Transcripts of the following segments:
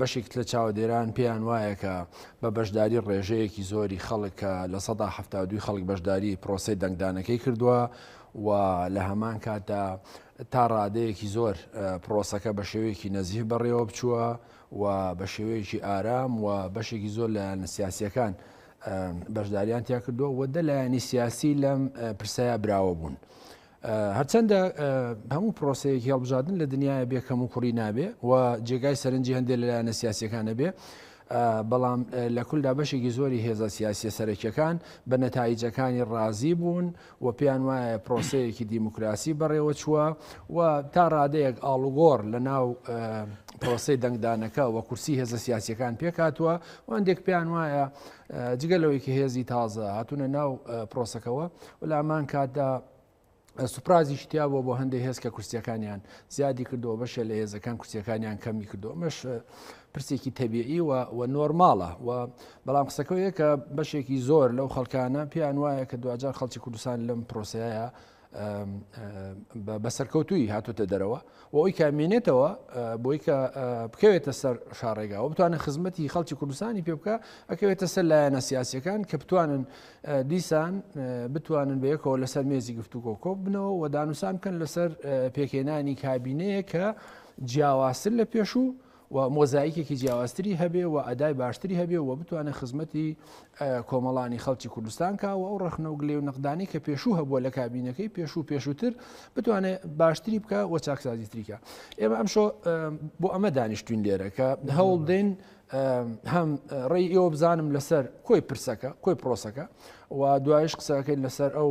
بەشێک لە چاوەدێران پێیان وایە کە بە بەشداری ڕێژەیەکی زۆری خەڵک کە لە سەدا هەفتا دوی خەڵک بەشداری پرۆسەی دەنگدانەکەی کردووە و لە هەمان کاتدا تا ڕادەیەکی زۆر پرۆسەکە بە شێوەیەکی نەزیف بەڕێوە بچووە و بە شێوەیەکی ئارام و بەشێکی زۆر لایەنە سیاسیەکان بەشداریان تیا کردووە و دە لایەنی سیاسی لەم پرسەیە براوە بوون. هەرچەندە هەموو پرۆسەیەکی هەڵبژاردن لە دنیاە بێ کەموکوڕی نابێ و جێگای سەرنجی هەندێک لەلایەنە سیاسەکانە بێ بەڵام لە کولدا بەشێکی زۆری هێزە سیاسە سەرەکیەکان بە نەتایجەکانی ڕازی بوون و پێیان وایە پرۆسەیەکی دیموکراسی بەڕێوە چووە و تا ڕادەیەک ئاڵوگۆڕ لە ناو پرۆسی دەنگدانەکە و کورسی هێزە سیاسەکان پێکاتوە و هەندێک پێیان وایە جگە لەوەی کە هێزی تازە هاتوونە ناو پرۆسەکەەوە و لە ئەمان کاتدا سوپرازیش تیا بووە بۆ هەندێک هێز کە کورسیەکانیان زیادی کردەوە بەشێ لە هێزەکان کورسیەکانیان کەمی کردەوە مەش پرسێکی تەبیعی و نۆرماڵە و بەڵام قسەکەەیە کە بەشێکی زۆر لەو خەڵکانە پێیان وایە کە دوجار خەڵکی کوردستان لەم پرۆسەیە بە سەرکەوتوی هاتوتە دەرەوە و ئەوی کە مێنێتەوە بۆی کە بکەوێتە سەر شارڕێگاوە بتوانە خزمەتی خەڵکی کوردستانی پێ بکە ئەکەوێتە سەر لایەنە سیاسەکان کە بتوانن دیسان بتوانن بەیەکەوە لەسەر مێزی گفتو کۆکۆب بنەوە و دانوسان بکەن لەسەر پێکێنانی کابینەیە کە جیاوازتر لە پێشوو و مۆزایکێکی جیاوازتری هەبێ و ئەدای باشتری هەبێ و بتوانێت خزمەتی کۆمەڵانی خەڵکی کوردستان کا و ئەو ڕخنە و گلێ و نەقدانی کە پێشوو هەبووە لە کابینەکەی پێشوو پێشووتر بتوانێت باشتری بکە و چاکسازی تریکە ئێمە ئەمشۆ بۆ ئەمە دانیشتوین لێرە کە هەوڵ دێن هەم ڕێی ئێوە بزانم لەسەر کۆی پرسەکە کۆی پرۆسەکە و دوایش قسەکەین لەسەر ئەو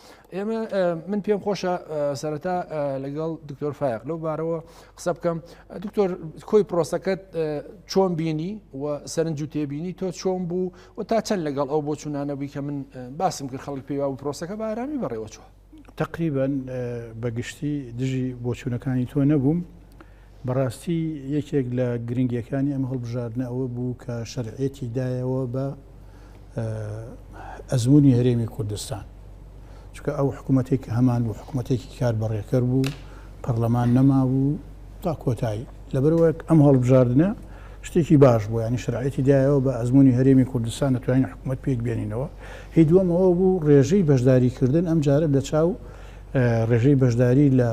ئێمە من پێم خۆشە سەرەتا لەگەڵ دکتۆر فایق لەو بارەوە قسە بکەم دکتۆر کۆی پرۆسەکەت چۆن بینی و سەرنج و تێبینی تۆ چۆن بوو و تا چەند لەگەڵ ئەو بۆ چوونانەبووی کە من باسم کرد خەڵک پێیوا و پرۆسەکە بارامی بەڕێوە چوە تقریبان بەگشتی دژی بۆچوونەکانی تۆ نەبووم بەڕاستی یەکێک لە گرنگیەکانی ئەم هەڵبژاردنە ئەوە بوو کە شەرعیەتی دایەوە بە ئەزمونی هەرێمی کوردستان چکە ئەو حکوومەتێک کە هەمان بوو حکوومەتێکی کار بەڕێکەر بوو پەرلەمان نەمابوو تا کۆتایی لەبەرەوەک ئەم هەڵبژاردنە شتێکی باش بوو ینی شرعەتی دایەوە بە ئەزمموی هەرێمی کوردستان دەتوانین حکوومەت پێک بێنینەوە هی دووەمەوە بوو ڕێژەی بەشداریکردن ئەم جارە لە چاو ڕێژەی بەشداری لە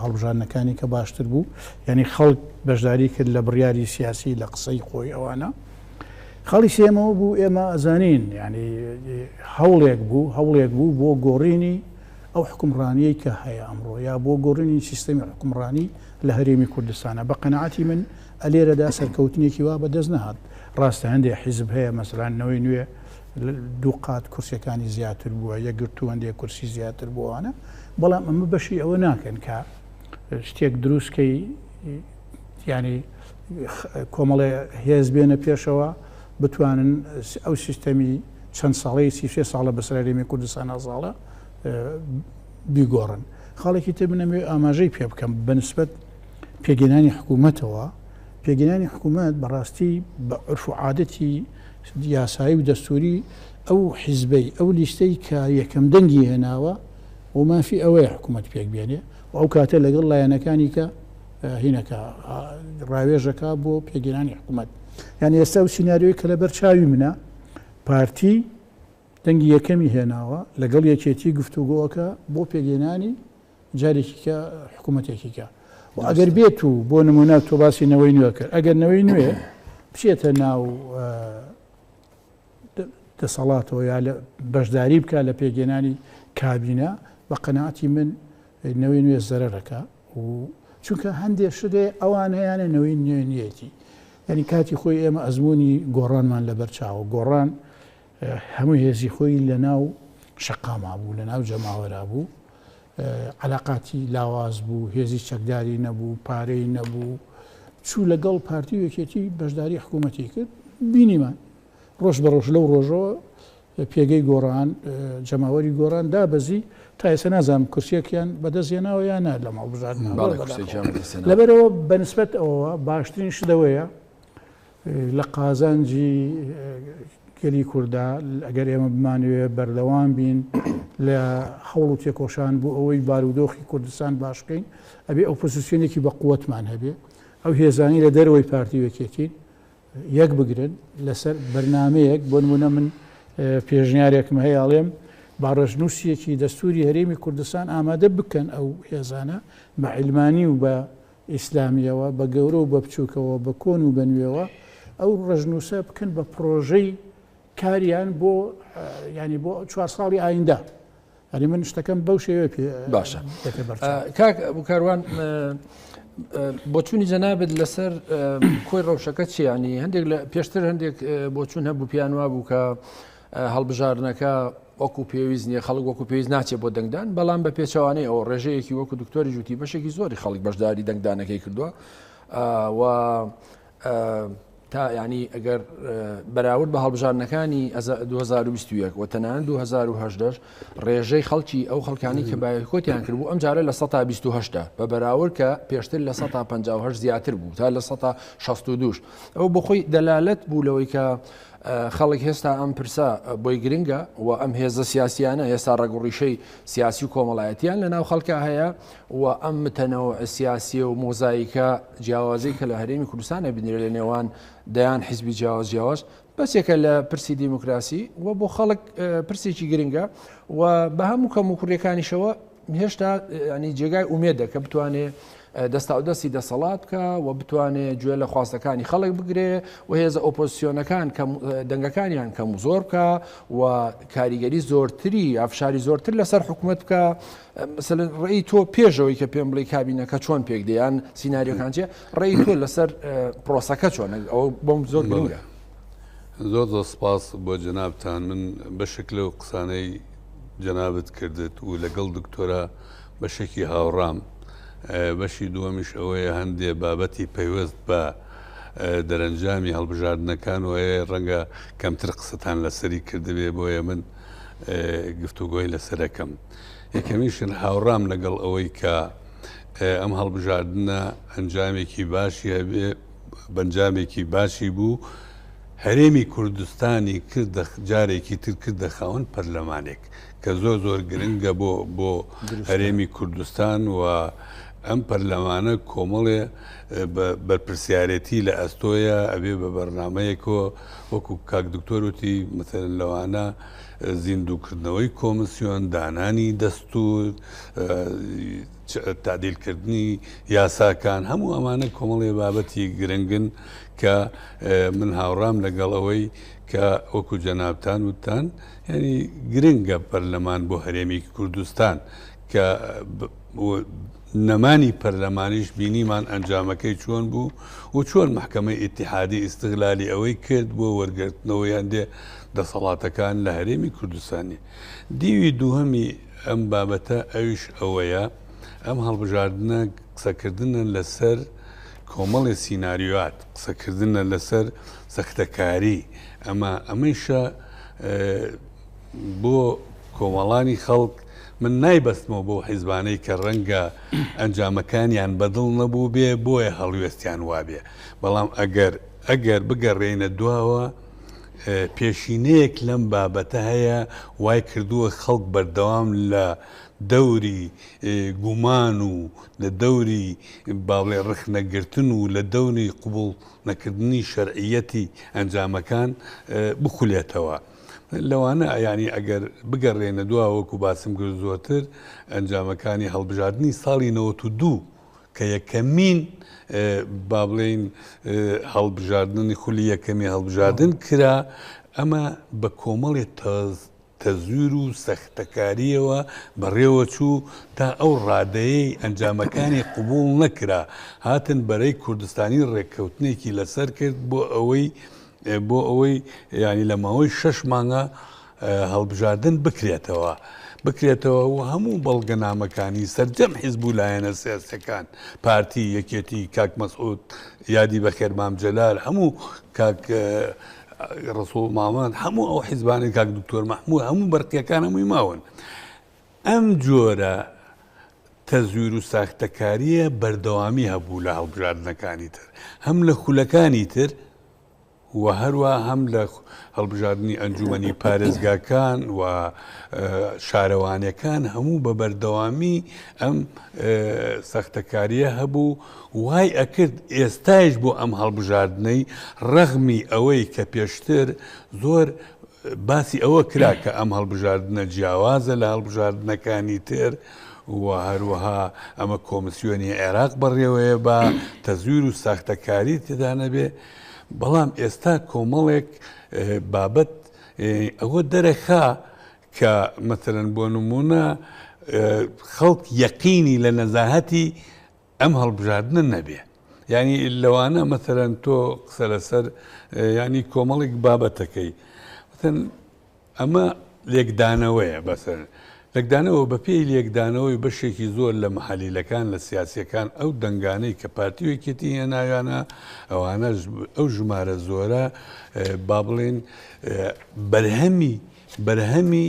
هەڵبژاردنەکانی کە باشتر بوو یعنی خەڵک بەشداری کرد لە بڕیاری سیاسی لە قسەی خۆی ئەوانە خەڵی سێمەوە بوو ئێمە ئەزانین یعنی هەوڵێک بوو هەوڵێک بوو بۆ گۆڕینی ئەو حکومڕانیەی کە هەیە ئەمڕۆ یا بۆ گۆڕینی سیستەمی حکومڕانی لە هەرێمی کوردستانە بە قەنەعاتی من ئەلێرەدا سەرکەوتنێکی وا بەدەست نەهات ڕاستە هەندێک حیزب هەیە مەسرانەوەی نوێ دوو قات کورسیەکانی زیاتر بووە، یەکگرتوو هەندێک کورسی زیاتر بوو ئەوانە، بەڵام ئەمە بەشی ئەوە ناکەن کە شتێک دروست کەی یانی کۆمەڵێ هێز بێنە پێشەوە بتوانن ئەو سیستەمی چەند ساڵەی سیشێ ساڵە بەسەرێمی کوردستان ئازاڵە بیگۆڕن خاڵێکی تر بنەمێ ئاماژەی پێ بکەم بەنسبەت پێگەنانی حکوومەتەوە پێگەنانی حکوومەت بەڕاستی بە عرف و عادەتی یاسایی و دەستووری ئەو حیزبەی، ئەو لیستەی کە یەکەم دەنگی هێناوە و مافی ئەوەیە حکوومەت پێک بێنێ و ئەو کاتە لەگەڵ لایەنەکانی کە هینەکە ڕاوێژ ئەکا بۆ پێکهێنانی حکوومەت. یانی ئێستا ئەو سیناریۆی کە لەبەر چاوی منە، پارتی دەنگی یەکەمی هێناوە، لەگەڵ یەکێتی گفتوگۆ ئەکا بۆ پێکهێنانی جارێکی کە حکوومەتێکی کە و ئەگەر بێت و بۆ نمونە تۆ باسی نەوەی نوێ کرد ئەگەر نەوەی نوێ بچێتە ناو دەسەڵاتەوە یا لە بەشداری بکە لە پێگەێنانی کابینە بە قەنەعاتی من نەوەی نوێ زەرەرەکە و چونکە هەندێ شتێ ئەوان هەیەە نەوەی نوێنیەتی یعنی کاتی خۆی ئێمە ئەزمموی گۆڕانمان لە بەرچاوە گۆڕان هەموو هێزی خۆی لەناو شەقاما بوو، لەناو جەماوەرا بوو، عەلاقاتی لاواز بوو، هێزی چەکداری نەبوو، پارەی نەبوو، چوو لەگەڵ پارتی و یەکێتی بەشداری حکوومەتی کرد، بینیمان ڕۆژ بە ڕۆژ لەو ڕۆژەوە پێگەی گۆڕان، جەماوەری گۆڕان دابەزی، تا ئێستا نازانم کورسییەکیان بەدەست هێناوە یا نا لەم هەڵبژاردنە، لەبەرئەوە بەنسبەت ئەوەوە باشترین شت ئەوەیە لە قازانجی گەلی کورددا ئەگەر ئێمە بمانەوێت بەردەوام بین لە هەوڵ و تێکۆشان بۆ ئەوەی بارودۆخی کوردستان باش بکەین ئەبێ ئەو پۆزیسیۆنێکی بە قوتمان هەبێ ئەو هێزانی لە دەرەوەی پارتی وەکێتین یەک بگرن لەسەر بەرنمەیەک بۆ نمونە من پێشنیارێکم هەیە ئاڵێم باڕژنووسیەکی دەستوری هەرێمی کوردستان ئامادە بکەن ئەو هێزانە بە عیلمانی و بە ئیسلامییەوە، بە گەورە و بە بچووکەوە، بە کۆن و بە نوێوە، ئەو ڕەشنووسە بکەن بە پڕۆژەی کاریان بۆ ینی بۆ چوار ساڵی ئایندە. هەری من شتەکەم بەو شێوێ پێ باشە کاک بکاروان بۆچوونی جەنابێت لەسەر کۆی ڕەوشەکە چیانی هەندێک لە پێشتر هەندێک بۆچوون هەبوو پیانوا بوو کە هەڵبژاردنەکە وەکو پێویست نیە خەڵک وەکو پێویست ناچێت بۆ دەنگدان بەڵام بە پێچوانەی ئەو ڕێژەیەکی وەکو دکتۆری جوتی بەشێکی زۆری خەڵک بەشداری دەنگدانەکەی کردووە و تا ینی ئەگەر بەراورد بە هەڵبژارنەکانی 2021 و تەنان 2010 ڕێژەی خەڵکی ئەو خەڵکانی کە بایکۆتیان کردبوو ئەم جارە لە 1970 بە بەراور کە پێشتر لە 1950 زیاتر بوو تا لە 1962 ئەو بخۆی دەلالت بوو لەوەی کە خەڵک هێستا ئەم پرسە بۆی گرنگە و ئەم هێزە سیاسیانە هێستا ڕەگوڕیشەی سیاسی و کۆمەڵایەتیان لە ناو خەڵکە هەیە و ئەم متەنەوە سیاسیە و مۆزایکە جیاوازی کە لە هەرێمی کوردستانە بنرێت لە نێوان دەیان حیزبی جیاواز جیاواز بەسێکە لە پرسی دیموکراسی و بۆ خەڵک پرسێکی گرنگە و بە هەموو کەم و کوڕیەکانیشەوە هێشتا ینی جێگای ئومێدە کە بتوانێ دەستاودەستی دەسەڵات بکە و بتوانێ گوێ لە خواستەکانی خەڵک بگرێ و هێزە ئۆپۆزیسیۆنەکان دەنگەکانیان کەم و زۆر بکە و کاریگەری زۆرتری ئافشاری زۆرتر لەسەر حکوومەت بکە ڕێی تۆ پێشەوەی کە پێم بڵی کابینەکە چۆن پێک دەیان سینناریۆکان چێ ڕێی تۆ لەسەر پرۆسەکە چۆن ئەو بۆم زۆر گرنگە زۆر زۆر سپاس بۆ جەنابان من بەشێک لەو قسانەی جەنابت کردت و لەگەڵ دکتۆرا بەشێکی هاوڕام بەشی دووەمیش ئەوەیە هەندێ بابەتی پەیوەست بە دەرەنجامی هەڵبژاردنەکان وەیە ڕەنگە کەمتر قسەتان لەسەری کردبێ بۆیە من گفتوگۆی لەسەرەکەم یەکەمیشن هاوڕام لەگەڵ ئەوەی کە ئەم هەڵبژاردنە ئەنجامێکی باشی هەبێ بەنجامێکی باشی بوو، هەرێمی کوردستانی کردە جارێکی تر کردە خاوەن پەرلەمانێک، کە زۆر زۆر گرنگە بۆ بۆ هەرێمی کوردستان و ئەم پەرلەمانە کۆمەڵێ بەرپرسیارەتی لە ئەستۆیە ئەبێ بە بەرنمەیەکۆ وەکو کاک دکتۆرتی مثل لەوانە زیندووکردنەوەی کۆمسیۆن دانانی دەستور تەعدیلکردنی یاساکان، هەموو ئەمانە کۆمەڵێ بابەتی گرنگن کە من هاوڕام لەگەڵ ئەوەی کە وەکو جەنابتان وتان یعنی گرنگە پەرلەمان بۆ هەرێمی کوردستان کە نەمانی پەرلەمانیش بینیمان ئەنجامەکەی چۆن بوو و چۆن محکمەی ئتیحادی ئیسغلالی ئەوەی کرد بۆ وەرگرتنەوەی هەندێ دەسەڵاتەکان لە هەرێمی کوردستانی دیوی دووهەمی ئەم بابەتە ئەویش ئەوەیە ئەم هەڵبژاردنە قسەکردنە لەسەر کۆمەڵی سیناریۆات قسەکردنە لەسەر سەختەکاری ئەمە ئەمەیشە بۆ کۆمەڵانی خەڵک من نایبەستمەوە بۆ حیزبانەی کە ڕەنگە ئەنجامەکانیان بەدڵ نەبوو بێ بۆیە هەڵوێستیان وابێ بەڵام ئەگەر ئەگەر بگەڕێنە دواوە پێشینەیەک لەم بابەتە هەیە وای کردووە خەڵک بەردەوام لە دەوری گومان و لە دەوری باڵێ ڕخنەگرتن و لە دەوری قوبڵ نەکردنی شەرعیەتی ئەنجامەکان بخولێتەوە. لەوانە ئەیانی ئەگەر بگەڕێنە دواوەکو باسم کرد زۆرتر ئەنجامەکانی هەڵبژاردننی ساڵی 92 کە یەکەمین با بڵێین هەڵبژاردنی خولی یەکەمی هەڵبژاردن کرا ئەمە بە کۆمەڵی تاز تەزویر و سەختەکاریەوە بەڕێوە چوو تا ئەو ڕادەیەی ئەنجامەکانی قوبول نەکرا هاتن بەرەی کوردستانی ڕێککەوتنێکی لەسەر کرد بۆ ئەوەی بۆ ئەوەی ینی لە ماوەی شەش مانگە هەڵبژاردن بکرێتەوە بکرێتەوە و هەموو بەڵگەنامەکانی سەرجەم حیزب و لایەنە سیاسیەکان پارتی یەکێتی کاک مەسعود یادی بەخێر مام جەلال هەموو کاک ڕسوڵ مامەند هەموو ئەو حیزبانی کاک دکتۆر مەحموود هەموو بەرقیەکان هەمووی ماون ئەم جۆرە تەزویر و ساختەکاریە بەردەوامی هەبوو لە هەڵبژاردنەکانی تر هەم لە خولەکانی تر و هەروا هەم لە هەڵبژاردنی ئەنجومەنی پارێزگاکان و شارەوانەکان هەموو بە بەردەوامی ئەم سەختەکاریە هەبوو وای ئەکرد ئێستایش بۆ ئەم هەڵبژاردنەی ڕەغمی ئەوەی کە پێشتر زۆر باسی ئەوە کرا کە ئەم هەڵبژاردنە جیاوازە لە هەڵبژاردنەکانی تر و هەروەها ئەمە کۆمسیۆنی عێراق بەڕێوەیە بە تەزویر و ساختەکاری تدانەبێ بەڵام ئێستا کۆمەڵێک بابەت ئەوە دەرەخا کە مەسەرەن بۆ نمونە خەڵک یەقینی لە نەزاهەتی ئەم هەڵبژاردنە نەبێ ینی لەوانە مەسەرەن تۆ قسە لەسەر ینی کۆمەڵێک بابەتەکەی ئەمە لێکدانەوەیە بەس. لەکدانەوە، بەپێی لێکدانەوەی بەشێکی زۆر لە محەلیلەکان لە سیاسییەکان ئەو دەنگانەی کە پارتی و یەکێتی هێناویانە ئەوانەش ئەو ژمارە زۆرە با بڵێین بەرهەمی بەرهەمی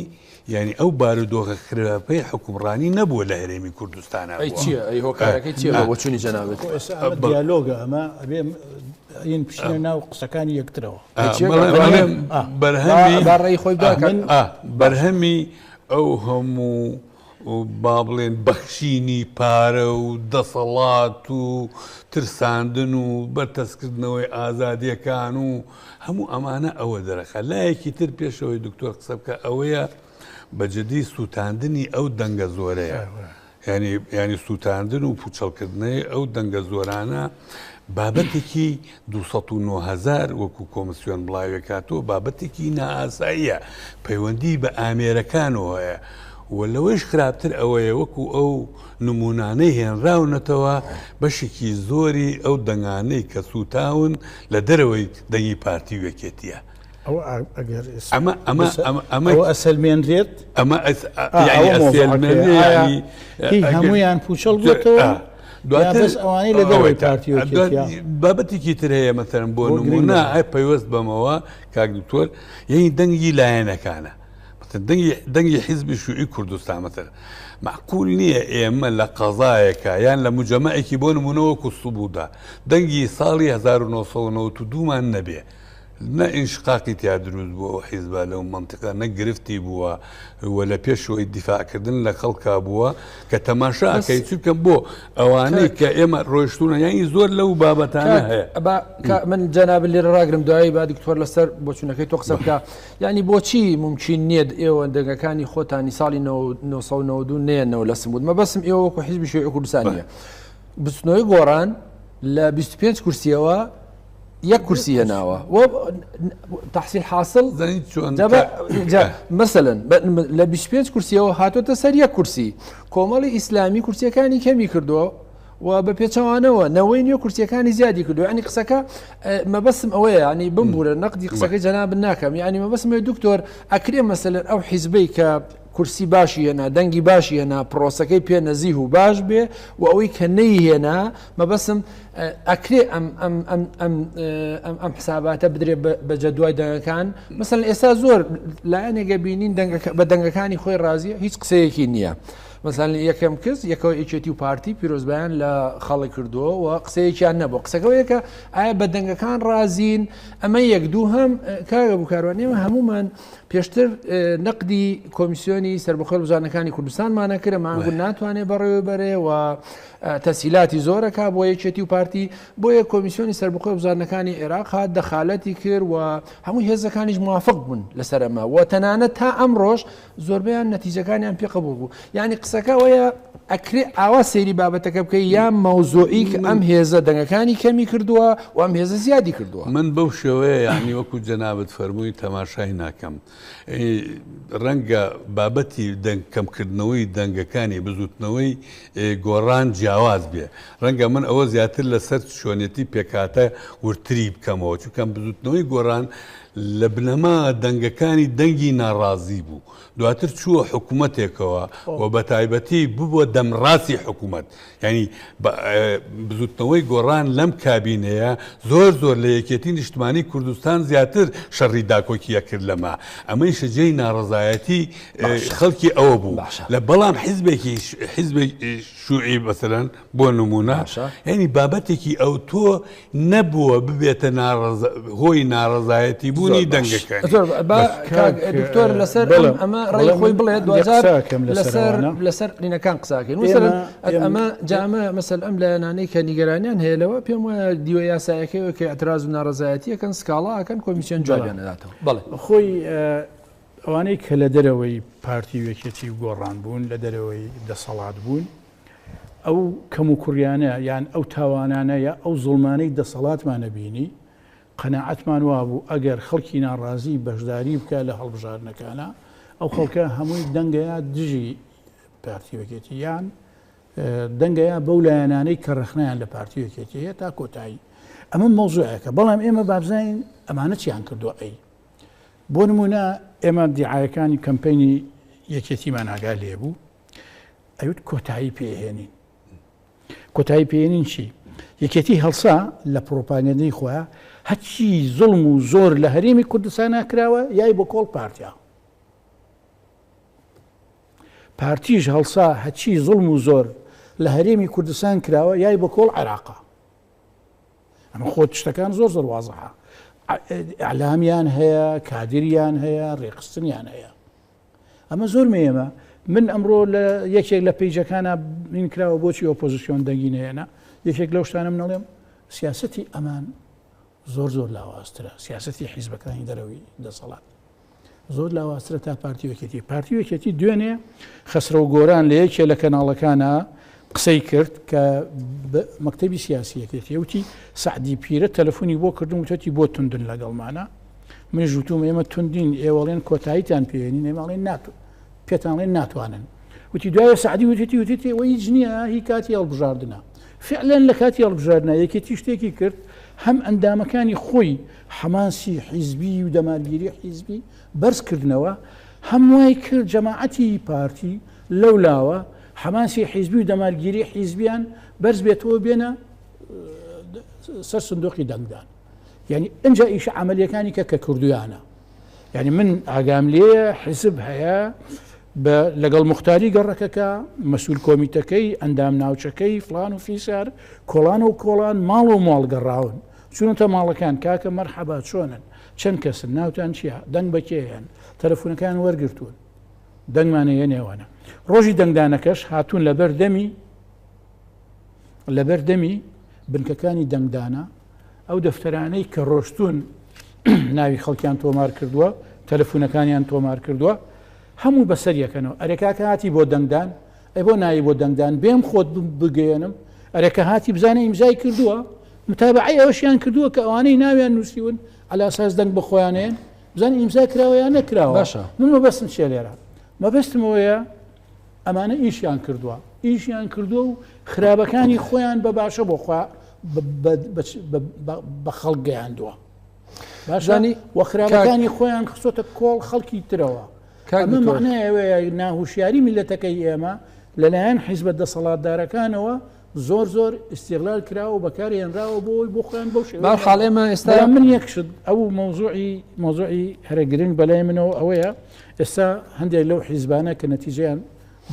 یعنی ئەو بارودۆخە خراپەی حکومڕانی نەبووە لە هەرێمی کوردستانە ئەی چییە ئەی هۆکارەکەی چییە بۆ بۆچوونی جەنابت؟ ئێستا ئەمە دیالۆگە ئەمە ئەبێ ین بچنە ناو قسەکانی یەکترەوە. ئا بەڵێ بەڵێ بەرهەمی با ڕێی خۆی بڵێ کە ئا بەرهەمی ئەو هەموو با بڵێن بەخشینی پارە و دەسەڵات و ترساندن و بەرتەسکردنەوەی ئازادییەکان و هەموو ئەمانە ئەوە دەرەخە لایەکی تر پێشەوەی دکتۆر قسە بکە ئەوەیە بە جدی سووتاندنی ئەو دەنگە زۆرەیە یانی یانی سووتاندن و پوچەڵکردنەی ئەو دەنگە زۆرانە بابەتێکی 2090هزار وەکو کۆمسیۆن بڵاوێکاتەوە بابەتێکی نائاساییە پەیوەندی بە ئامێرەکانەوە هەیە و لەوەیش خراپتر ئەوەیە وەکو ئەو نمونانەی هێنراونەتەوە بەشێکی زۆری ئەو دەنگانەی کە سووتاون لە دەرەوەی دەنگی پارتی وەکێتیە ئەسەلمێنرێت ئەمە هەمویان پوچەڵ بێتەوە دواتر ئەوانی لە دەوەی کارتی بابەتێکی تر هەیە مەسەرم بۆ نمونە ئای پەیوەست بەمەوە کاک دکتۆر یعنی دەنگی لایەنەکانە دەنگی حیزبی شوعی کوردستان مەتەر معقول نییە ئێمە لە قەزایەکە یان لە مجەمەعێکی بۆ نمونەوە کوسوبوودا دەنگی ساڵی 1992مان نەبێ نە ئینشقاقی تیا دروست بووە ئەو حیزبە لەو مەنتقە نە گرفتی بووە و لە پێشەوەی دیفاعکردن لە خەڵکا بووە کە تەماشا ئەکەی چونکە بۆ ئەوانەی کە ئێمە ڕۆشتونە یانی زۆر لەو بابەتانە هەیە من جەناب لێرە ڕاگرم دوایی با دکتۆر لەسەر بۆچوونەکەی تۆ قسە بکە ینی بۆچی ممکن نییە ئێوە دەگەکانی خۆتانی ساڵی 1992 نێنەوە لە سمود مە بەسم ئێوەکو حیزبی شوێ کوردستانە بستنەوەی گۆڕان لە 25 کورسیەوە یەک کورسی هێناوە تحصیل حاصل مثلەن لە 25 کورسیەوە هاتۆتە سەر یەک کورسی کۆمەڵی ئیسلامی کورسیەکانی کەمی کردووە و بە پێچەوانەوە نەوەی نیە کورسیەکانی زیادی کردو ینی قسەکە مەبەسم ئەوەیە ینی بمبورە نەقدی قسەکەی جەناب ناکەم ینی مەبەسم دکتۆر ئەکرێ مەسەلەن ئەو حیزبەی کە کورسی باشی هێنا دەنگی باشی هێنا پرۆسەکەی پێ نەزیه و باش بێ و ئەوەی کە نەی هێنا مەبەستم ئەکرێ ئەم حساباتە بدرێ بە جەدوای دەنگەکان مەسەن ئێستا زۆر لایەنێگە بینین بە دەنگەکانی خۆی ڕازیە هیچ قسەیەکی نییە. مەسان یەکەم کەس یەکەوە یەکێتی و پارتی پیرۆزبیان لە خەڵک کردووە و قسەیەکیان نەبوو قسەکەەوەیەکە ئایا بە دەنگەکان ڕازین ئەمە یەک دوو هەم کاگە بکاران ئێمە هەمومان پێشتر نەقدی کۆمیسیۆنی سربەخۆل بزانەکانی کوردستانمانە کرە ماگو ناتوانێت بەڕێوەبەرێ و تەسهیلاتی زۆرەکا بۆ یەکێتی و پارتی، بۆیە کۆمیسیۆنی سەربەخۆی بزواتنەکانی عێراق هات دەخالەتی کرد و هەموو هێزەکانیش موافق بوون لەسەر ئەمە و تەنانەت تا ئەمڕۆش زۆربەیان نەتیجەکانیان پێ قبوڵ بوو یانی قسەکە ئەوەیە ئەکرێ ئاوا سەیری بابەتەکە بکەی یا مەوزوعی کە ئەم هێزە دەنگەکانی کەمی کردووە و ئەم هێزە زیادی کردووە. من بەو شێوەیە یانی وەکو جەنابت فەرمووی تەماشای ناکەم ڕەنگە بابەتی دەنگ کەمکردنەوەی دەنگەکانی بزوتنەوەی گۆڕان جیاواز بێ ڕەنگە من ئەوە زیاتر لەسەر شوێنێتی پێکاتە ورتری بکەمەوە چونکەم بزوتنەوەی گۆڕان لە بنەما دەنگەکانی دەنگی ناڕازی بوو دواتر چووە حکوومەتێکەوە و بە تایبەتی ببووە دەمڕاستی حکوومەت یانی بزوتنەوەی گۆڕان لەم کابینەیە زۆر زۆر لە یەکێتی نیشتمانی کوردستان زیاتر شەڕی داکۆکی ئەکرد لەمە ئەمەیشە جێی ناڕەزایەتی خەڵکی ئەوە بوو لە بەڵام حیزبێکی حیزبێک شوعی بەسەرەن بۆ نمونە ینی بابەتێکی ئەو تۆ نەبووە ببێتە هۆی ناڕەزایەتی بوونی دەنگەکان دکتۆر لەسەر ئەمە ڕێ خۆی بڵێ دوکەم لەسەر لەسەر قینەکان قساکەین ئەمە جامە مەسەر ئەم لایەنانەی کە نیگەرانیان هەیە لەوە پێم وایە دیوە یاسایەکەی کە ئەتراز و ناڕزایەتیەکەن سکاڵاکەن کۆمیسیۆن جوانیانەداتەوە بڵێ خۆی ئەوانەی کە لە دەرەوەی پارتی وێکێتی و گۆڕان بوون لە دەرەوەی دەسەڵات بوون ئەو کەموکوڕیانە یان ئەو تاوانانە یا ئەو زوڵمانەی دەسەڵاتمان نەبینی، قەناعەتمان وابوو ئەگەر خەڵکی ناڕازی بەشداری بکا لە هەڵبژاردنەکانا، ئەو خەڵکە هەمووی دەنگەیا دژی پارتی یەکێتی یان دەنگەیا بەو لایەنانەی کە ڕەخنیان لە پارتی یەکێتی هەیە تا کۆتایی. ئەمە مەوزوعەکە بەڵام ئێمە بابزانین ئەمانە چیان کردووە ئەی. بۆ نمونە ئێمە دیعاەکانی کەمپینی یەکێتیمان ئاگا لێبوو، ئەوت کۆتایی پێهێنین کۆتایی پێێنین چی یەکێتی هەڵسا لە پرۆپانێنەی خۆە هەچی زڵم و زۆر لە هەرێمی کوردستان ناکراوە یای بۆ کۆڵ پارتیا پارتیش هەڵسا هەچی زڵم و زۆر لە هەرێمی کوردستان کراوە یای بە کۆڵ عێراقا ئەمە خۆت شتەکان زۆر زۆر وازەها ئەلامیان هەیە کادریان هەیە ڕێخستنیان هەیە ئەمە زۆر مێیەمە من ئەمڕۆ لە یەکێک لە پیجەکانە بین کراوە بۆچی ئۆپۆزیسیۆن دەنگی نێنە یەکێک لەو شتانە منەڵێم سیاستی ئەمان زۆر زۆر لاوازترە سیاستی حیزبەکانی دەرەوەی دەسەڵات زۆر لاوازترە تا پارتی وەکێتی پارتی وەکێتی دوێنێ خەسرە و گۆران لە یەکێ لە کەناڵەکانە قسەی کرد کە مەکتەبی سیاسیەکەێتی وتی سعدی پیرە تەلەفۆنی بۆ کردم وتەتی بۆ توندن لەگەڵمانە من ژوتوم ئێمە توندین ئێوەڵێن کۆتاییتان پێێنی نێماڵێن ناتو پێتانڵێن ناتوانن وتی دوای سعدی وتێتی وتێتی ئەوە هیچ نییە هی کاتی هەڵبژاردنە فعلێن لە کاتی هەڵبژاردنە یەکێتی شتێکی کرد هەم ئەندامەکانی خۆی حەماسی حیزبی و دەمارگیری حیزبی بەرزکردنەوە هەموای کرد جەماعەتی پارتی لەو لاوە حەماسی حیزبی و دەمارگیری حیزبیان بەرز بێتەوە بێنە سەر سندۆقی دەنگدان یعنی ئەجا ئیش عملیەکانی کە کە کردویانە یعنی من ئاگام لێ حیزب هەیە لەگەڵ مختاری گەڕەکەکە مەسول کۆمیتەکەی ئەندام ناوچەکەی فلان و فیسار کۆڵان و کۆڵان ماڵ و ماڵ گەڕاون چونەتە ماڵەکان کاکە مەرحەبا چۆنن چەند کەسن ناوتان چیە دەنگ بەکێیان تەلەفونەکان وەرگتوون دەنگمان هەیە نێوانە ڕۆژی دەنگدانەکەش هاتوون لەبەر دەمی لەبەر دەمی بنکەکانی دەنگدانە ئەو دەفتەرانەی کە ڕۆشتون ناوی خەڵکیان تۆمار کردووە تەلەفونەکانیان تۆمار کردووە هەموو بەسەر یەکەنەوە ئەرێکاکە هاتی بۆ دەنگدان ئەی بۆ نایی بۆ دەنگدان بێم خۆت بگەێنم ئەرێکە هاتی بزانە ئیمزای کردووە متابعی ئەوشیان کردووە کە ئەوانەی ناویان نووسیون ئەلاساس دەنگ بە خۆیانێن بزانین ئیمزای کراوە یا نەکراوە باشە من مەبەستم چێ لێرە مەبەستمەوەیە ئەمانە ئیشیان کردووە ئیشیان کردووە و خراپەکانی خۆیان بە باشە بۆ خوا بە خەڵک گەیاندووە باشانی وەخراپەکانی خۆیان خسۆتە کۆڵ خەڵکی ترەوە کامە مەعنایەوەیە ناهوشیاری میلەتەکەی ئێمە لەلایەن حیزبە دەسەڵاتدارەکانەوە زۆر زۆر ئیسیغلال کراوە و بەکار هێنراوە بۆ ئەوی بۆ خۆیان بەو شێوەیە بەهەر حاڵ بەڵام- ئێمە ئێستا بەڵام من یەک شت ئەو مەوزوعی مەوزوعی هەرە گرنگ بەلای منەوە ئەوەیە ئێستا هەندێک لەو حیزبانە کە نەتیجەیان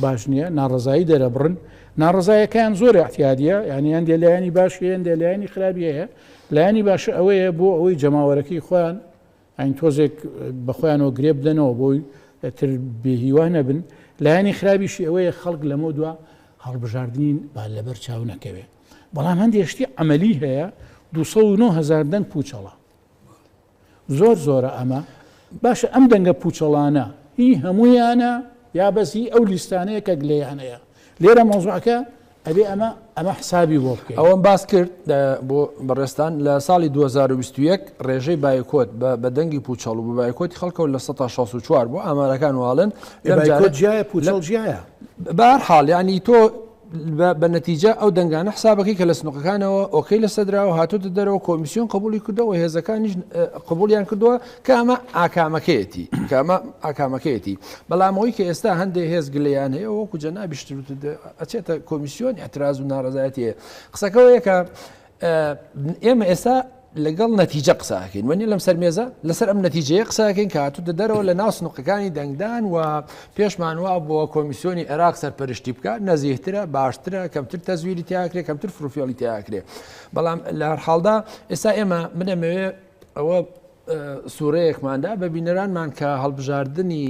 باش نییە ناڕەزایی دەرەبڕن ناڕەزایەکەیان زۆر اعتیادیە یعنی هەندێ لایەنی باش هەیە هەندێ لایەنی خراپی هەیە لایەنی باشە ئەوەیە بۆ ئەوەی جەماوەرەکەی خۆیان ئەین تۆزێک بەخۆیانەوە گرێ بدەنەوە بۆی تر بێهیوا نەبن لایەنی خرابیشی ئەوەیە خەڵک لەمە دوا هەڵبژاردنین با لەبەر چاو نەکەوێ بەڵام هەندێک شتی ئەمەلی هەیە 2009هزار دەنگ پوچەڵە زۆر زۆرە ئەمە باشە ئەم دەنگە پوچەڵانە هی هەمویانە یا بەسی ئەو لیستانەیە کە گلەیانەیە لێرە مۆزعەکە ئەبێ ئەمە ئەمە حسابی بۆ بکەین ئەوەم باس کرد بۆ بەڕێستان لە ساڵی 2021 ڕێژەی بایکۆت بە بەدەنگی پوچەڵ و بە بایکۆتی خەڵکەوە لە 1964 بۆ ئامارەکان واڵن جیایە پوچەڵ جیایە بار حاڵ ینی تۆ بە نەتیجە ئەو دەنگانە حسابەکەی کە لە سنوقەکانەوە ئۆکەی لە سەدراوە هاتوتە دەرەوە کۆمیسیۆن قبولی کردەوە هێزەکانیش قبولیان کردووە کە ئەمە ئاکامەکەیەتی، کە ئەمە ئاکامەکەیەتی، بەڵام ئەوەی کە ئێستا هەندێ هێز گلەیان هەیە وەکو جەنابیش ئەچێتە کۆمیسیۆن ئیحتراز و ناڕەزایەتی هەیە قسەکە ئەوەیە کە ئێمە ئێستا لەگەڵ نەتیجە قساکەین وەنی لەم سەر مێزە لەسەر ئەم نەتیجەیە قساکەین کە هاتوو دەدەرەوە لە ناو سنوقەکانی دەنگدان و پێشمان وا بۆ کۆمیسیۆنی عێراق سەرپەرشتی بکە نەزیهترە باشترە کەمتر تەزویری تاکرێ کەمتر فروفێڵی تاکرێ بەڵام لە هەرحاڵدا ئێستا ئێمە منەمەوێ ئەوە سوورەیەکمان دا بە بینەرانمان کە هەڵبژاردنی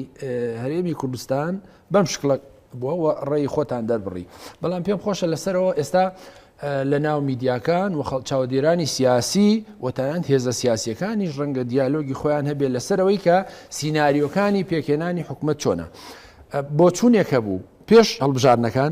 هەرێمی کوردستان بەم شکڵە بووە و ڕێی خۆتان دەربڕی بەڵام پێم خۆشە لەسەرەوە ئێستا لە ناو میدیاکان و خەڵ چاودێرانی سیاسی وتەناند هێزە سیاسیەکانیش ڕەنگە دیالۆگی خۆیان هەبێت لەسەرەوەی کە سینناریۆکانی پێکێنانی حکومت چۆنە بۆچوونێک هەبوو پێش هەڵبژارنەکان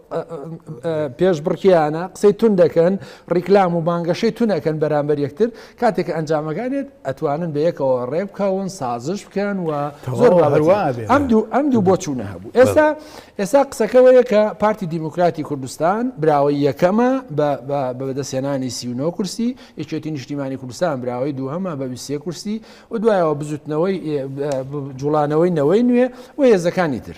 پێشبڕکێیانە قسەی تون دەکەن ڕیکلام و بانگەشەی تونەکەن بەرامبەر یەکتر کاتێک ئەنجامەکانێت ئەتوانن بە یەکەوە ڕێ بکەون سازش بکەن و زۆر ئەم دوو ئەم دوو بۆ چوونە هەبوو ئێستا ئێستا قسەکەەوەیە کە پارتی دیموکراتی کوردستان براوەی یەکەمە بەدەستێنانی سیونۆ کورسی یەکێتی نیشتیمانی کوردستان براوەی دووهەمە بە ویسێ کورسی و دوایەوە بزوتنەوەی جوڵانەوەی نەوەی نوێ و هێزەکانی تر.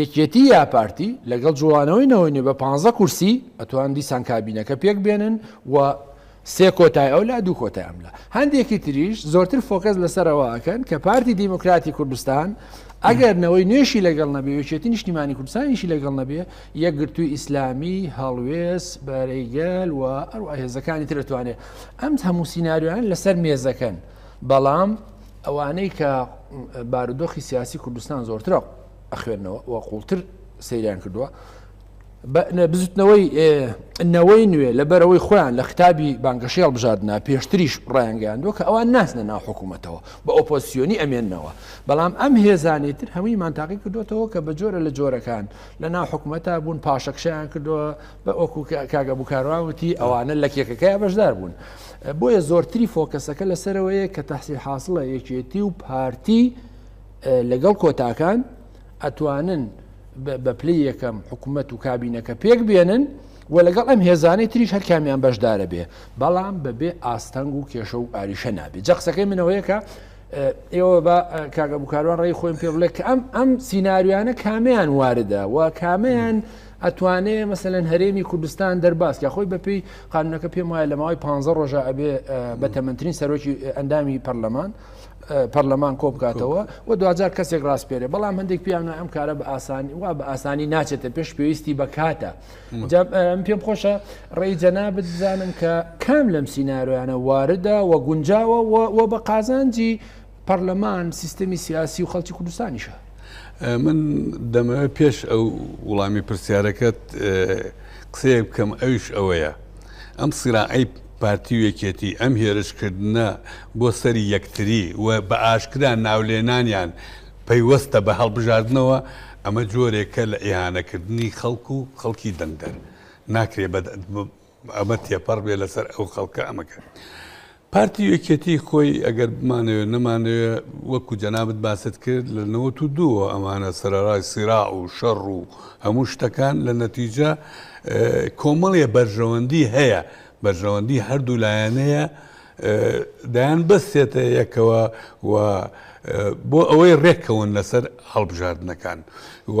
یەکێتی یا پارتی لەگەڵ جوڵانەوەی نەوەی نوێ بە پانزە کورسی ئەتوان دیسان کابینەکە پێک بێنن و سێ کۆتای ئەو لا دوو کۆتای ئەم لە هەندێکی تریش زۆرتر فۆکەس لەسەرەوە ئەکەن کە پارتی دیموکراتی کوردستان ئەگەر نەوەی نوێشی لەگەڵ نەبێ یەکێتی نیشتیمانی کوردستانیشی لەگەڵ نەبێ یەکگرتووی ئیسلامی هەڵوێست بەرەیگەل و ئەو هێزەکانی ترتوانێت ئەم هەموو سینناریوان لەسەر مێزەکەن بەڵام ئەوانەی کە بارودۆخی سیاسی کوردستان زۆرتر ئەخوێنەوە و قوڵتر سەیریان کردووە بزوتنەوەی نەوەی نوێ لە بەرەوەی خۆیان لە قوتابی بانگەشی هەڵبژاردنا پێشتریش ڕایانگەیاندوە کە ئەوان ناسنە ناو حکوومەتەوە بە ئۆپۆسیۆنی ئەمێنەوە بەڵام ئەم هێزانی تر هەمووی مانتاقی کردوێتەوە کە بە جۆرە لە جۆرەکان لە ناو حکوومەتە بوون پاشەکشیان کردووە وەکو کاک ئەبو کاروان وتی ئەوانە لە کێکەکەی بەشدار بوون بۆیە زۆرتری فۆکەسەکە لەسەرەوەیە کە تەحسیل حاصلە یەکێتی و پارتی لەگەڵ کۆتاکان ئەتوانن بە پلی یەکەم حکوومەت و کابینەکە پێک بێنن و لەگەڵ ئەم هێزانەی تریش هەر کامیان بەشدارە بێ بەڵام بەبێ ئاستەنگ و کێشە و ئاریشە نابێت جە قسەکەی منەوەیەکە ئێوە بە کاگە بکاران ڕێی خۆیم پێ بڵێ کە ئەم ئەم سینناریوانە کامیان واردە و کامیان ئەتوانێ مەسەلەن هەرێمی کوردستان دەرباز کە خۆی بەپێی قانونەکە پێم وایە لە ماوەی پ ڕۆژە ئەبێ بە تەمەندترین سەرۆکی ئەندامی پەرلەمان پەرلەمان کۆ بکاتەوە و دوجار کەسێک ڕاستپێرێ بەڵام هەندێک پیانە ئەم کارە بە ئاسانی وا بە ئاسانی ناچێتە پێش پێویستی بە کاتە پێم خۆشە ڕێی جەنا بزانم کە کام لەم سیننارویانە واردە و گونجاوە و بە قازانجی پەرلەمان سیستەمی سیاسی و خەڵکی کوردستانیشە. من دەمەوێت پێش ئەو وڵامی پرسیارەکەت قسەیەک بکەم ئەوش ئەوەیە ئەم سیراعی پارتی و یەکێتی ئەم هێرشکردنە بۆ سەری یەکتری و بە ئاشکرا ناولێنانیان پەیوەستە بە هەڵبژاردنەوە ئەمە جۆرێکە لە ئیهانەکردنی خەڵک و خەڵکی دەنگدەر ناکرێ بە ئەمە تێپەڕ بێ لەسەر ئەو خەڵکە ئەمەکە پارتی یەکێتی خۆی ئەگەر بمانەوێت نەمانەوێت وەکو جەنابەت باست کرد لە نەوەت و دووە ئەمانە سەرڕای سیرا و شەڕ و هەموو شتەکان لە نەتیجە کۆمەڵێ بەرژەوەندی هەیە بەرژەوەندی هەردوو لایەنەیە دایان بەستێتە یەکەوە و بۆ ئەوەی ڕێککەون لەسەر هەڵبژاردنەکان و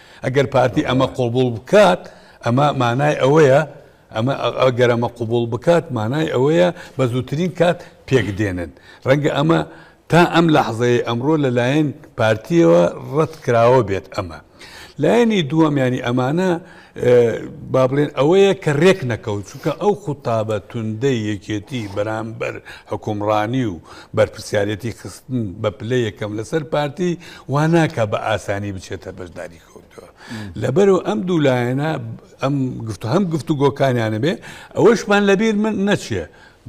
ئەگەر پارتی ئەمە قوبوڵ بکات ئەمە مانای ئەوەیە ئەمە ئەگەر ئەمە قوبوڵ بکات مانای ئەوەیە بە زووترین کات پێک دێنن ڕەنگە ئەمە تا ئەم لە حەزەیە ئەمڕۆ لەلایەن پارتیەوە ڕەت کراوە بێت ئەمە لایەنی دووەمیانی ئەمانە با بڵێن ئەوەیە کە ڕێک نەکەوت چونکە ئەو خوتابە توندەی یەکێتی بەرامبەر حکومڕانی و بەرپرسیارێتی خستن بە پلە یەکەم لەسەر پارتی وا ناکە بە ئاسانی بچێتە بەشداری کەوتەوە لەبەرو ئەم دوو لایەنە ئەم گفت هەم گفت و گۆکانیانە بێ ئەوەشمان لەبیر من نەچێ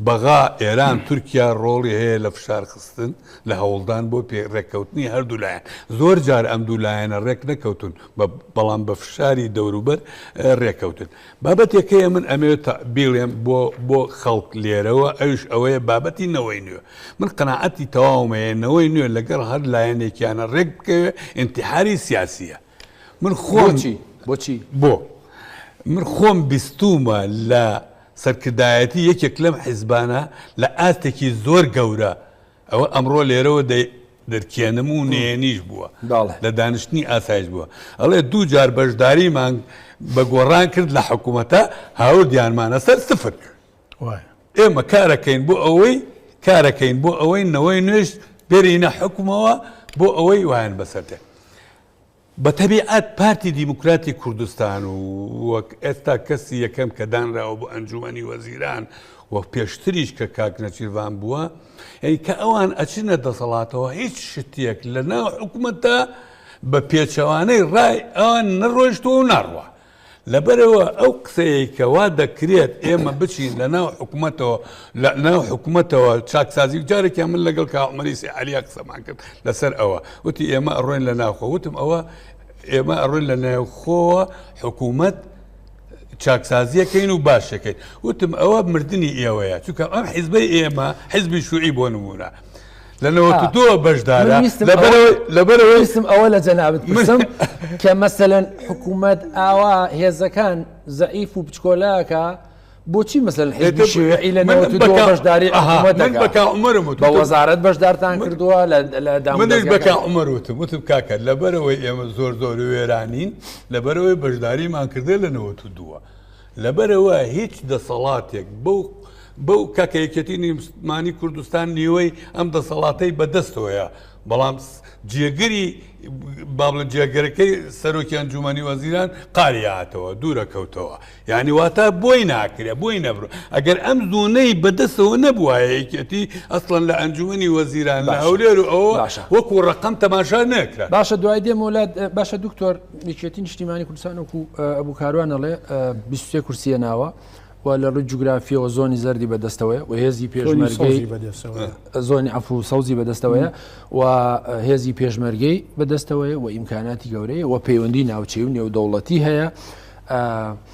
بەغا ئێران تورکیا ڕۆڵی هەیە لە فشارخستن لە هەوڵدان بۆ پێ ڕێککەوتنی هەردوو لایەن زۆر جار ئەم دوو لایەنە ڕێک نەکەوتن بەڵام بە فشاری دەوروبەر ڕێککەوتن بابەتێک هەیە من ئەمەوێت بیڵێم بۆ بۆ خەڵک لێرەوە ئەوش ئەوەیە بابەتی نەوەی نوێ من قەنەعەتی تەواومەیە نەوەی نوێ لەگەڵ هەر لایەنێکیانە ڕێک بکەوێ ئینتحاری سیاسیە من خۆچی بۆچی بۆ من خۆم بیستومە لە سەرکردایەتی یەکێک لەم حیزبانە لە ئاستێکی زۆر گەورە ئەوە ئەمڕۆ لێرەوە دەرکێنم و نێنیش بووە لە دانیشتنی ئاسایش بووە ئەڵێ دوو جار بەشداریمان بە گۆڕان کرد لە حکوومەتە هاوردیانمانە سەر سفر ئێمە کارەکەین بۆ ئەوەی کارەکەین بۆ ئەوەی نەوەی نوێش بێرینە حکومەوە بۆ ئەوەی وایان بەسەر دێ بە تەبیعەت پارتی دیموکراتی کوردستان و وەک ئێستا کەسی یەکەم کە دانراوە بۆ ئەنجومەنی وەزیران و پێشتریش کە کاک نەچیرڤان بووە یعنی کە ئەوان ئەچنە دەسەڵاتەوە هیچ شتێک لە ناو حکومەتە بە پێچەوانەی ڕای ئەوان نەڕۆیشتووە و ناڕوە لەبەرئەوە ئەو قسەیەی کە وا دەکرێت ئێمە بچین لە ناو حکومەتەوە لە ناو حکومەتەوە چاکسازی جارێکیان من لەگەڵ کاعمەری سیعەلیا قسەمان کرد لەسەر ئەوە وتی ئێمە ئەڕۆین لە ناوخۆ وتم ئەوە ئێمە ئەڕۆین لە ناوخۆوە حکوومەت چاکسازیەکەین و باشەکەین وتم ئەوە مردنی ئێوەیە چونکە ئەم حیزبەی ئێمە حیزبی شوعی بۆ نمونە لە نەوەت دو بەشدارە لەبەرەوەی سم ئەوە لە جەنابت مسم کە مەسەەن حکوومەت ئاوا هێزەکان زعیف و بچکۆلاکە بۆچی مەسەل حێشوێعی لە بەشداری بەکە عمرم بە وەزارت بەشدارتان کردووە لە دامنش بەکە عمر وتم وتم کاکە لەبەرەوەی ئێمە زۆر زۆر وێرانین لەبەرەوەی بەشداریمان کردێ لە نەوەت دووە. لەبەرئەوە هیچ دەسەڵاتێک بەو بەو کاکە یەکێتی نیمانی کوردستان نیوەی ئەم دەسەڵاتەی بەدەستەوەیە بەڵام جێگری بابلە جێگەرەکەی سەرۆکیان جومانی وەزیران قاریاتەوە دوورە کەوتەوە یعنی واتە بۆی ناکرێ بۆی نەبر ئەگەر ئەم زۆنەی بەدەستەوە نەبووایە یەکێتی ئەسڵەن لە ئەنجومی وەزیران لە هەولێر و ئەوە وەکو ڕقم تەماشا نەکرا باشە دوای دێمۆلات باشە دکتۆر یەکێتی نیشتیمانی کوردستان وەکو ئەبوو کاروان ئەڵێ بیست و سێ کورسی هێناوە و لە ڕووی جوگرافیەوە زۆنی زەردی بەدەستەوەیە و هێزی پێشمەرگەی زۆنی عەفو و سەوزی بەدەستەوەیە و هێزی پێشمەرگەی بەدەستەوەیە و ئیمکاناتی گەورەیە و پەیوەندی ناوچەی و نێودەوڵەتی هەیە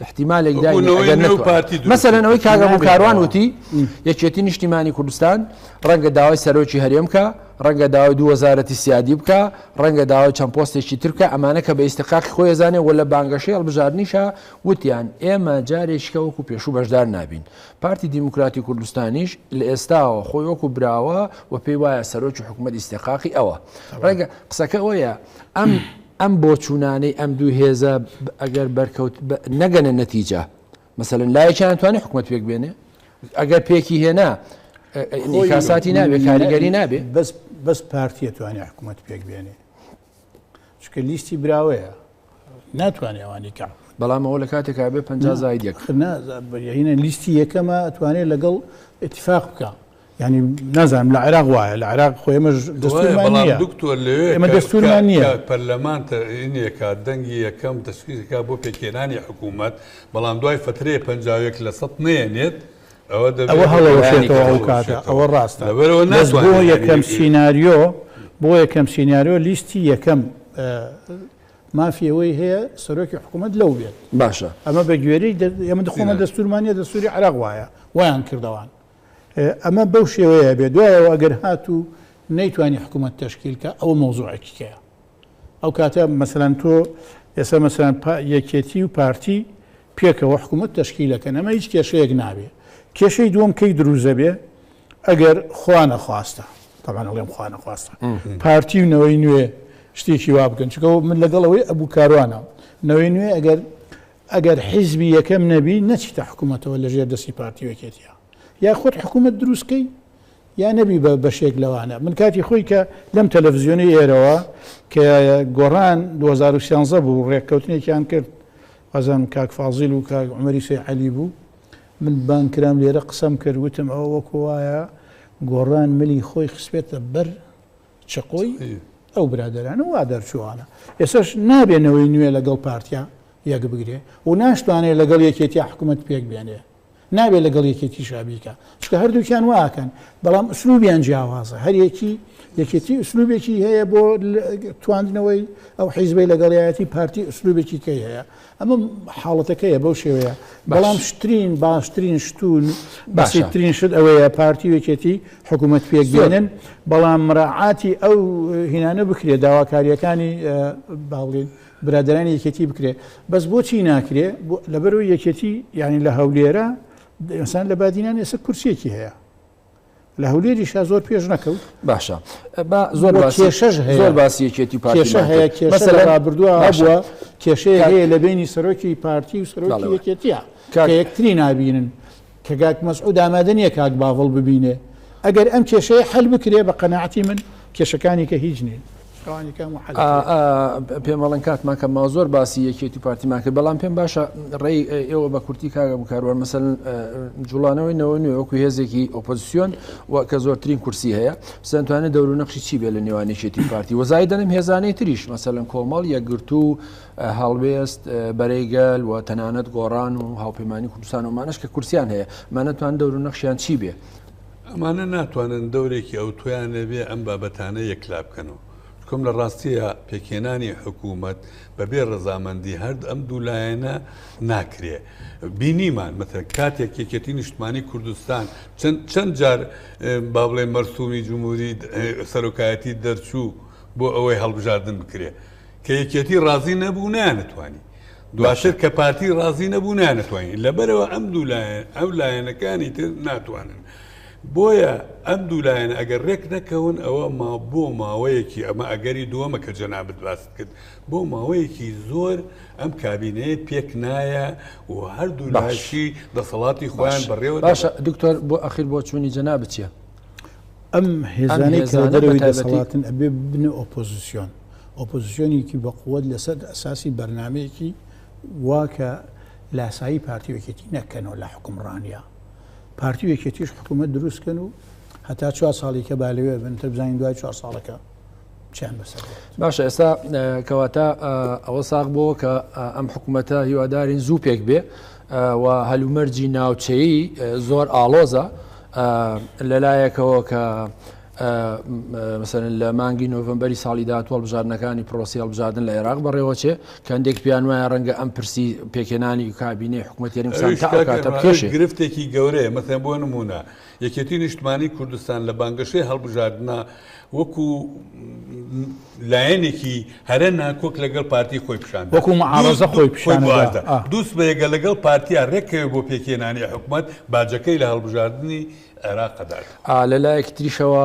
احتیمالێک داینێ ئەگەر ببوونەوەی نێو نەتوانێت پارتی دروست مەسەلەن ئەوەی کاکە بکرێت. هۆکاروان نابێتەوە. وتی یەکێتی نیشتیمانی کوردستان ڕەنگە داوای سەرۆکی هەرێم بکا ڕەنگە داوای دوو وەزارەتی سیادی بکا ڕەنگە داوای چەند پۆستێکی تر بکا ئەمانە کە بە ئیستحقاقی خۆی ئەزانێ و لە بانگەشەی هەڵبژاردنیشا وتیان ئێمە جارێکیکە وەکو پێشوو بەشدار نابین پارتی دیموکراتی کوردستانیش لە ئێستاوە خۆی وەکو براوە و پێی وایە سەرۆکی حکومەت ئیستحقاقی ئەوە ڕەنگە قسەکە ئەوەیە ئەم ئەم بۆچوونانەی ئەم دوو هێزە ئەگەر بەرکەوت نەگەنە نەتیجە مەسەلەن لایەکیان توانێت حکومەت پێک بێنێ ئەگەر پێکی هێنا کاساتی نابێ کاریگەری نابێ بەس بەس پارتیە توانێت حکوومەت پێک بێنێ چکە لیستی براوەیە ناتوانێت ئەوانی کە بەڵام ئەوە لە کاتێکا بێ پ زایدەکە لیستی یەکەمە توانێت لەگەڵ اتفاق بکە یانی نازانم لە عێراق وایە لە عێراق خۆ ئێمەش دەستورمان نیە بەڵام دکتۆر لەوێ ئێمە دەستورمان نیە پەرلەمان تەرئین یەکات دەنگی یەکەم تەشخیص کا بۆ پێکهێنانی حکوومەت بەڵام دوای فترەیە پەنجا و یەک لە سەد نێنێت ئەوە دەبێت ئەوە هەڵەوەشێتەوە ئەو کاتە ئەوە ڕاستە لەبەرەوە بەس بۆ ناتوانێت یەکەم یەکێک سیناریۆ بۆ یەکەم سیناریۆ لیستی یەکەم مافی ئەوەی هەیە سەرۆکی حکوومەت لەو بێت باشە ئەمە بە گوێرەی دە ئێمە دخۆمە سیناریۆ. دەستورمان نیە دەستوری عێراق وایە وایان کردەوان ئەمە بەو شێوەیە ئەبێ دوایەوە ئەگەر هات و نەیتوانی حکوومەت تەشکیل کە ئەوە مەوزوعێکی کەیە ئەو کاتە مەسەلەن تۆ ئێستا مەسەلەن یەکێتی و پارتی پێکەوە حکوومەت تەشکیلەکەن ئەمە هیچ کێشەیەک نابێ کێشەی دووەم کەی دروزە بێ ئەگەر خوا نەخواستە تەمان ئەڵێم خوا نەخواستە پارتی و نەوەی نوێ شتێکی وا بکەن چکەوە من لەگەڵەوەی ئەبوو کاروانە نەوەی نوێ ئەگەر ئەگەر حیزبی یەکەم نەبی نەچیتە حکومەتەوە لە ژێر دەستی پارتی و یەکێتیا یا خۆت حکومەت دروست کەی یا نەبی بە بەشێک لەوانە من کاتی خۆی کە لەم تەلەڤزیۆنی ئێرەوە کە گۆڕان 2013 بوو ڕێککەوتنێکیان کرد وازم کاک فازیل و کاک عمەری سێ عەلی بوو من بان کرام لێرە قسەم کرد وتم ئەوە وەکو وایە گۆڕان ملی خۆی خسپێتە بەر چقۆی ئەو برادەرانە وا دەرچووانە ئێسەش نابێ نەوەی نوێ لەگەڵ پارتیا یەک بگرێ و ناشتوانێ لەگەڵ یەکێتیا حکوومەت پێک بێنێ نابێ لەگەڵ یەکێتی شابیکە چکە هەردووکیان واکەن بەڵام ئوسلوبیان جیاوازە هەریەکی یەکێتی ئوسلوبێکی هەیە بۆ تواندنەوەی ئەو حیزبەی لەگەڵایەتی پارتی ئوسلوبێکی کەی هەیە ئەمە حاڵەتەکەیە بەو شێوەیە بەڵام شترین باشترین شتون بەسیترین شت ئەوەیە پارتی وێکێتی حکوومەت پێکبێنن بەڵام مراعاتی ئەو هینانە بکرێت داواکاریەکانی باڵین برادرانی یەکێتی بکرێت بەس بۆچی ناکرێ لەبەرو یەکێتی یعنی لە هەولێرە دەسان لە بادینان ئێستا کورسێکی هەیە لە هەولێریشا زۆر پێش نەکەوت باشە با زۆر بۆ باسی کێشەش هەیە. زۆر باسی یەکێتی پارتی کێشە هەیە ماکرد. کێشە مەسەلەن لە ڕابردووە باشە. هەبووە کێشەیە کاک- هەیە لە بینی سەرۆکی پارتی و سەرۆکی بەڵێ. یەکێتیە کە کاک- یەکتری نابینن کە گاک مەسعود ئامادە نییە کاک باڤڵ ببینێ ئەگەر ئەم کێشەیە حل بکرێ بە قەناعەتی من کێشەکانی کە هیچ نین پێم بەڵێن کاتمان کە ما زۆر باسی یەکێت و پارتیمان کرد بەڵام پێم باشە ڕێی ئێوە بە کورتی کاگە بکارەوە مەسەن جوڵانەوەی نەوە نوێ وەکو هێزێکی ئۆپۆزیسیۆن و کە زۆرترین کورسی هەیە سنتوانێت دەور نەخشی چی بێ لە نێوانێکێتی پارتی وەزای دەنم هێزانەی تریش مەسەلەن کۆمەڵ یەکگرتو و هەڵوێست بەرەیگەل و تەنانەت گۆڕان و هاوپەیمانانی کوردستان ومانش کە کورسیان هەیە مانەتوان دەور نەخشیان چی بێ ئەمانە ناتوانن دەورێکی ئەوتۆیان لەبێ ئەم بابەتانە یەکلا بکەنەوە، چکۆم لە ڕاستییا پێکهێنانی حکوومەت بەبێ ڕەزامەندی هەرد ئەم دوو لایەنە ناکرێ. بینیمان مەسەلەن کاتێک یەکێتی نیشتمانی کوردستان چەند چەند جار با بڵێ مەرسوومی جمهووری سەرۆکایەتی دەرچوو بۆ ئەوەی هەڵبژاردن بکرێ، کە یەکێتی ڕازی نەبوو نانەتوانی دواتر کە پارتی ڕازی نەبوو نانەتوانین لەبەرەوە ئەم دوو لایەن ئەو لایەنەکانی تر ناتوانن بۆیە ئەم دوو لایەن ئەگەر ڕێک نەکەون ئەوە ما بۆ ماوەیەکی ئەمە ئەگەری دووەمە کە جەنابت باست کرد بۆ ماوەیەکی زۆر ئەم کابینەیە پێک نایە و هەردوو لاشی دەسەڵاتی خۆیان بەڕێوە باشە دکتۆر بۆ ئەخیر بۆ چوونی جەنا بچە ئەم هێزانەی کە دەرەوەی دەسەڵاتن ئەبێ ببنە ئۆپۆزیسیۆن ئۆپۆزیسیۆنێکی بەقوت لەسەر ئەساسی بەرنمەیەکی واکە لاسایی پارتی وەکێتی نەکەنەوە لە حکومڕانیا پارتی وەکێتیش حکوومەت دروستکەن و هەتا چوار ساڵی کە بالەوێ بن تر بزانین دوای چوار ساڵەکە باشە ئێستا کەواتە ئەوە ساق بۆ کە ئەم حکوومەتە هیوادارین زوو پێک بێ و هەلومەرجی ناوچەیی زۆر ئاڵۆزە لەلایەکەوە کە مثلن لە مانگی نۆڤمبەری ساڵی داات هەڵبژاردنەکانی پرۆسی هەڵبژاردن لە عێراق بەڕێوەچێ کە هەندێک پیان وایە ڕەنگە ئەم پرسی پێکێنانی و کابینەی حکوومەتێنی گرفتێکی گەورەیە مەسەن بۆ نمونە یەکێتی نیشتمانی کوردستان لە بانگەشەی هەڵبژاردنا وەکو لایەنێکی هەرە ناکۆک لەگەڵ پارتی خۆی پیشاندا وەکو معارزە خۆی پیشاندا دوست بەیەگە لەگەڵ پارتیا ڕێکەوێ بۆ پێکێنانی حکومت باجەکەی لە هەڵبژاردننی عێراقدار لە لایەکی تریشەوە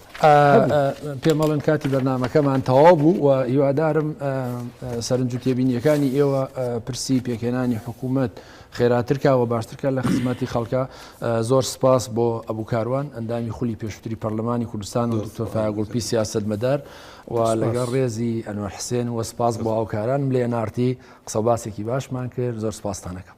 پێمەڵێن کاتی بەرنمەکەمان تەواو بوو و هیوادارم سەرنج و تێبینیەکانی ئێوە پرسی پێکێنانی حکوومەت خێراترکە و باشترکە لە خزمەتی خەڵکە زۆر سپاس بۆ ئەبوو کاروان ئەندامی خولی پێشتری پەرلەمانی کوردستان و دکتۆرفاگوڵپی سیاست مەدار و لەگەڵ ڕێزی ئەنوە حسێن و سپاس بۆ هاوکاران لێ نارتی قسە باسێکی باشمان کرد زۆر سپاستانەکەم.